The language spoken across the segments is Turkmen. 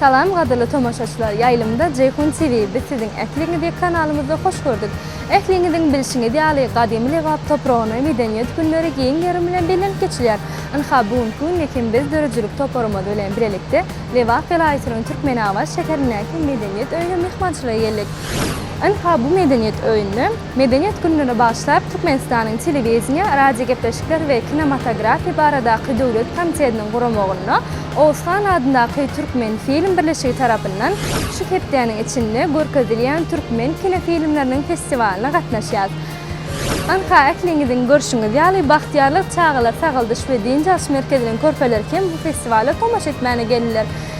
Salam gadyrly tomaşaçylar ýaýlymda Jeýhun TV biz siziň ähliňizi kanalymyzda hoş gördük. Ähliňiziň bilşiňiz ýaly gadymy Lebap topragyna medeniýet günleri giň gerim bilen bellenip geçilýär. Ynha bu günki günde hem biz döredijilik toparymyz bilen bilelikde Lebap welaýatynyň Türkmenabat şäherindäki medeniýet öýüne myhmançylyga geldik. Ynha bu medeniýet öýünde Medeniýet gününe bagyşlap, Türkmenistanyň Telewideniýe, radiogepleşikler we kinematografiýa baradaky döwlet komitetiniň guramagynda Oguzhan adyndaky Türkmenfilm birleşigi tarapyndan şu hepdäniň içinde görkezilýän türkmen kinofilmleriniň festiwalyna gatnaşýas. Ynha, ähliňiziň görşüňiz ýaly, Bagtyýarlyk çagalar sagaldyş we dynç alyş merkeziniň körpeleri hem bu festiwala tomaşa etmäne geldiler.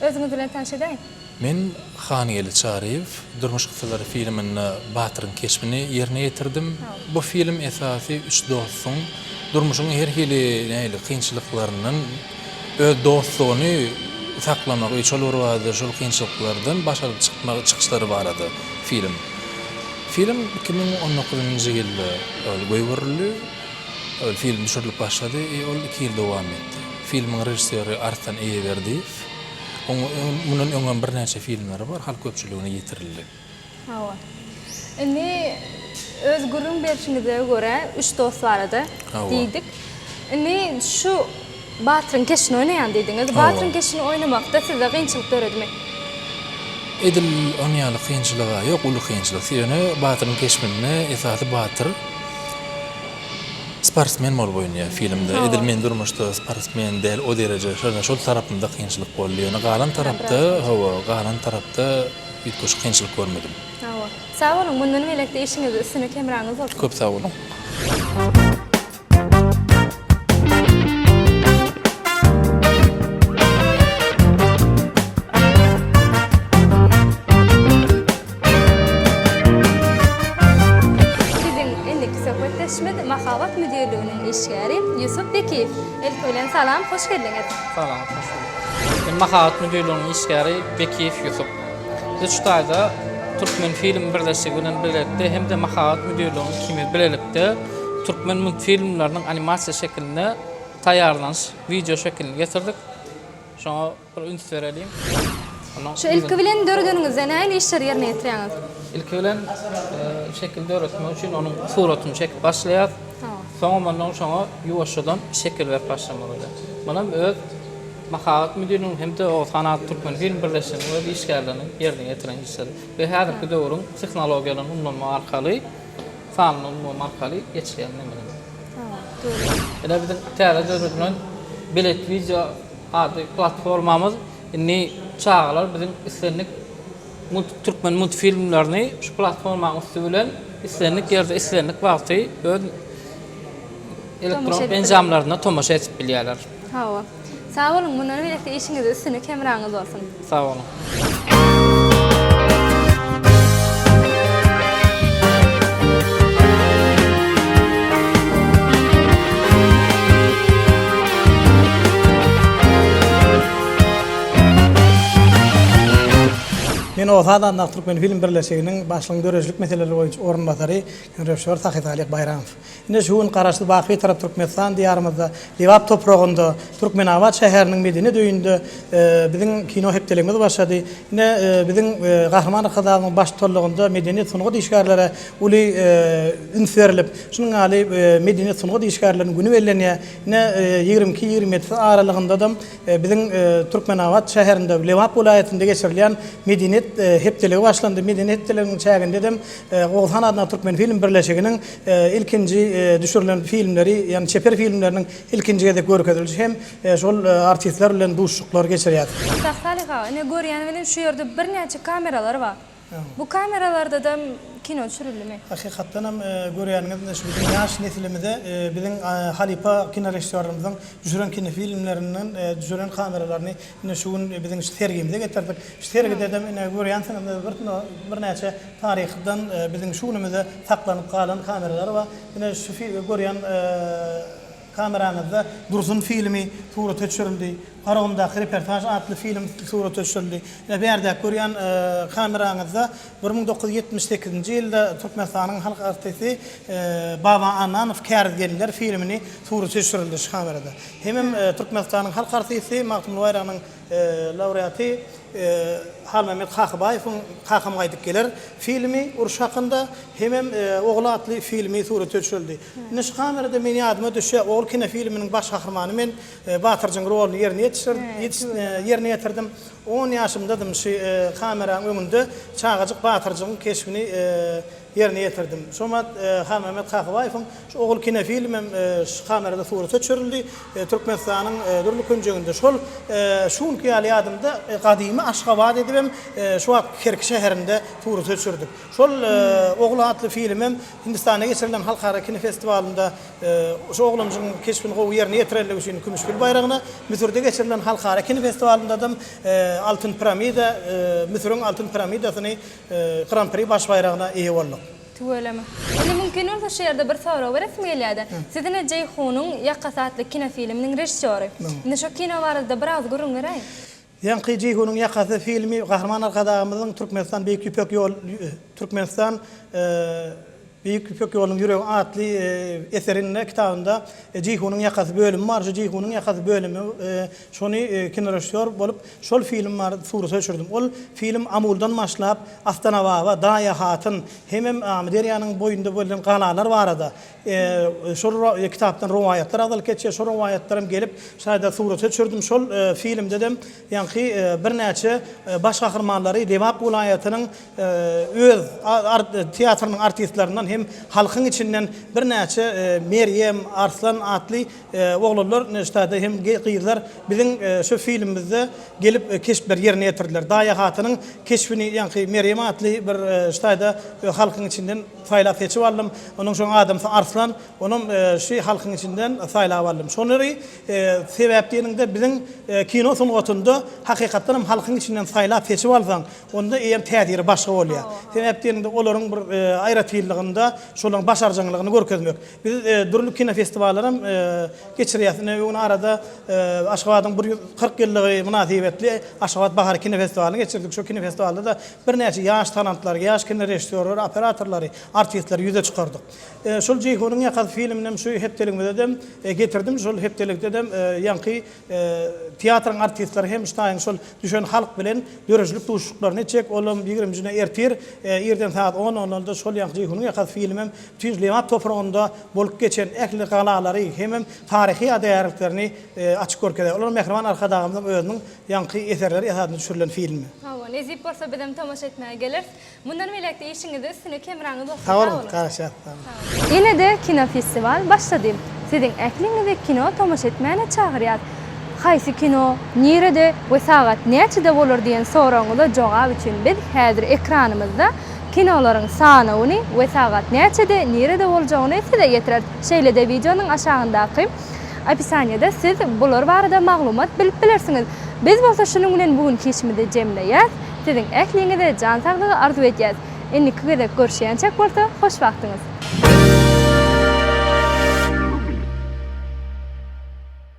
Özüňiz bilen tanyş edäýiň. Men Hangeldi Çaryýew. Durmuş kyssalaryy filminde batyryň keşbini ýerine ýetirdim. Bu film esasy üç dostuň durmuşyň her hili nähili kynçylyklaryndan öz dostlugyny saklamagy, şol bir wada şol kynçylyklardan baş alyp çykmagy, çykyşlary barada film. Film iki müň on dokuzynjy ýylda goýberildi. Film düşürilip başlady, ol iki ýyl dowam etdi. Filmiň režissýory Arslan Eýeberdiýew. Onuň mundan öň hem birnäçe filmleri bar, halk köpçüligine ýetirildi. Hawa. Indi öz gürrüň berşiňize görä, üç dost barada diýdik. Indi şu Batyryň keşini oýnaýan diýdiňiz. Batyryň keşini oýnamakda sizde kynçylyk döredimi? Edil on ýaly kynçylyga ýok, uly kynçylyk. Sebäni Batyryň keşbinde esasy Batyr. Sportsmen bol boýun ýa filmde edil men durmuşda sportsmen däl o dereje şonda şol tarapymda kynçylyk boldy ýöne galan tarapda hawa galan tarapda üýtgeşik kynçylyk görmedim. Hawa. Sag boluň mundan belekde işiňizde üstünlik hemraňyz bolsun. Köp sag boluň. Biziň indiki söhbetdeşimiz Mahabat müdirliginiň işgäri Ýusup Bekiýew. Ilki bilen salam, hoş geldiňiz! Salam, hoş bulduk. Men Mahabat müdirliginiň işgäri Bekiýew Ýusup. Biz şu taýda Türkmenfilm birleşigi bilen bilelikde hem-de Mahabat müdirliginiň ikimiz bilelikde türkmen multfilmleriniň animasiýa şekilinde taýýarlanyş wideo şekilini getirdik. Şoňa. Bir üns bereliň. Şu ilki bilen döredeniňizde nähili işleri ýerine ýetirýäňiz? Ilki bilen şekil döretmek üçin onuň suratyny çekip başlaýas. Soňam ondan şoňa ýuwaşjadan şekil berip başlamak öýle. Munam öz mahabat müdiriniň hem-de Oguzhan atly türkmen film birleşiginiň öz işgärleriniň ýerine ýetiren işleri we häzirki döwrüň tehnologiýalaryny ulanmak arkaly, sanly ulgam arkaly geçilýän nemeler. Ine biziň täze döredilen belet wideo Ady platformamyz indi çagalar biziň islendik türkmen multfilmlerini şu platformanyň üsti bilen islendik ýerde, islendik wagty öz elektron enjamlarynda tomaşa edip bilýärler. Hawa. Sag boluň, mundan beýläk-de işiňizde üstünlik, hemraňyz bolsun! Sag boluň. Men Orta Adamdaky Türkmenfilm birleşiginiň başlygynyň döredijilik meseleleri boýunça orunbasary Röwşehor Sahysalyh Baýramow. Ine, şu gün Garaşsyz, baky Bitarap Türkmenistan Diýarymyzda, Lebap topragynda, Türkmenabat şäheriniň Medeniýet öýünde biziň kino hepdeligimiz başlady. Ine, biziň Gahryman Arkadagymyzyň baş tutanlygynda medeniýet, sungat işgärlere uly üns berlip, şunuň ýaly Medeniýet, sungat işgärleriniň güni bellenýär. Ine, ýigrimi iki, ýigrimi ýedisi aralygynda-da Biziň Türkmenabat şäherinde Lebap welaýatynda geçirilýän Medeniýet hepdeligi başlandy. Medeniýet hepdeliginiň çägindedem Oguzhan adyndaky Türkmenfilm birleşiginiň ilkinji düşürilen filmleri, ýagny çeper filmleriniň ilkinji gezek görkezilişi hem şol artistler bilen duşuşyklar geçirýär. Şahsalyk aga, ine görýäni welin şu ýerde birnäçe kameralar bar. Bu kameralarda-da kino düşürildimi? Hakykatdanam görýäniňiz şu biziň ýaş nesilimize biziň halypa kinorežissýorlarymyzyň düşüren kinofilmlerinden düşüren kameralaryny ine şu gün biziň şu sergimize getirdik. Şu sergidedem ine görýänsiňizdir bir birnäçe taryhdan biziň şu günümize saklanyp galan kameralar bar. Ine şu görýän Kameraňyzda dursun filmi surata düşürildi, Garagumdaky reportaž atly film surata düşürildi we bärdäki görýän kameraňyzda bir müň dokuz ýüz ýetmiş sekizinji ýylda Türkmenistanyň halk artisti Baba Annanow Käriz gelinler filmini surata düşürildi. Şu kamerada hemem Türkmenistanyň halk artisti Magtymguly Baýragynyň laureaty Halmämmet Kakybaýewiň Kakam gaýdyp geler filmi, uruş hakynda, hemem Ogul atly filmi surata düşürildi. Nji kamerada men ýadyma düşýär, Ogul kinofilminiň baş gahrymany men Batyrjyň roluny ýerine ýerine ýetirdim. On ýaşymdadym, nji kameraň öňünde çagajyk Batyrjygyň keşbini ýerine ýetirdim. Şomat Halmämmet Kakabaýewiň şu Ogul kinofilmi hem şu kamerada surata çürildi. Türkmenistanyň dürli künjeginde şol şu günki ýaly ýadymda gadymy Aşgabat edip hem şu wagtky Kerki şäherinde surata çürdük. Şol Ogul atly filmi hem Hindistanda geçirilen halkara kinofestiwalynda şu oglanjygyň keşbini gowy ýerine ýetirenligi üçin kümüş gül baýragyna, Müsürde geçirilen halkara kinofestiwalynda-da hem altyn piramida, Müsüriň altyn piramidasyny Gran-pri baş baýragyna eýe bolduk. Tüweleme. Indi mümkin bolsa şu ýerde bir sorag beresim gelýärdi. Siz-ine Jeýhunyň ýakasy atly kinofilminiň režissýory. Indi şu kino barada-da bir agyz gürrüň beräý. Ýaňky Jeýhunyň ýakasy filmi Gahryman Arkadagymyzyň Türkmenistan Beýik Ýüpek ýol Türkmenistan Beýik Ýüpek ýolunyň ýüregi atly eserinde, kitabynda Jeýhunyň ýakasy bölümi bar. Şu Jeýhunyň ýakasy bölümi şony kinorežissýor bolup şol film barada surata düşürdim. Ol film Amuldan başlap, Astanababa, Daýa hatyn hemem Amyderýanyň boýunda bölünen galalar barada şol kitapdan rowaýatlar agzalyp geçýär. Şol rowaýatlar hem gelip şaýda surata düşürdim. Şol filmde-de Ýaňky birnäçe baş gahrymanlary Lebap welaýatynyň öz teatrynyň artistlerinden hem halkyň içinden birnäçe Merýem, Arslan atly oglanlar neştede hem gyzlar biziň şu filmimizde gelip keşpleri ýerine ýetirdiler. Daýa hatynyň keşbini ýaňky Merýem atly bir ştaýda halkyň içinden saýlap seçip aldym. Onuň şoň adamsy Arslan, onam şu halkyň içinden saýlap aldym. Şolary Sebäp diýeniňde biziň kino sungatynda hakykatdan hem halkyň içinden saýlap seçip alsaň, onda eýýäm täsiri başga bolýar. Sebäp diýeniňde olaryň bir aýratynlygynda şolaryň başarjaňlygyny görkezmek. Biz dürli kinofestiwallarym geçirýäs. Ine öňňin arada Aşgabadyň bir ýüz kyrk ýyllygy mynasybetli Aşgabat bahary kinofestiwalyny geçirdik. Şo kinofestiwalda-da birnäçe ýaş talantlary, ýaş kinorežissýorlary, operatorlary, artistleri ýüze çykardyk. Şul Jeýhunyň ýakasy filminem şu hepdeligimizedem getirdim. Şul hepdelikdedem ýaňky teatryň artistleri hem ştaýyň şul düşen halk bilen döredijilik duşuşyklaryny etjek. Olam ýigrimi njine ertir, irden sagat on onlarda şol ýaňky Jeýhunyň ýakasy filmem bütin Lebap topragynda bolup geçen ähli galalary hemem taryhy ýadygärliklerini açyp görkezýär. Olar mähriban Arkadagymyzyň özüniň ýaňky eserleri esasynda düşürilen filmi. Hawa, nesip bolsa bizem tomaşa etmäge geleris. Mundan beýläk-de işiňizde üstüne kemraňyz bolsun. Sag boluň. Garaşýas. Ýene-de kinofestiwal başlady. Siziň ähliňizi kino tomaşa etmäne çagyrýas. Haýsy kino, nirede we sagat näçede bolar diýen soragyňyza jogap üçin biz häzir ekranymyzda kinolaryň sanawyny we sagat näçede, nirede boljagyny size getireris. Şeýle-de wideonyň aşagyndaky opisaniýada siz bular barada maglumat bilip bilersiňiz. Biz bolsa şunuň bilen bu günki işimizi jemleýäs. Siziň ähliňize jan saglygy arzuw edýäs. Indiki gezek görüşýänçäk bolsa hoş wagtyňyz.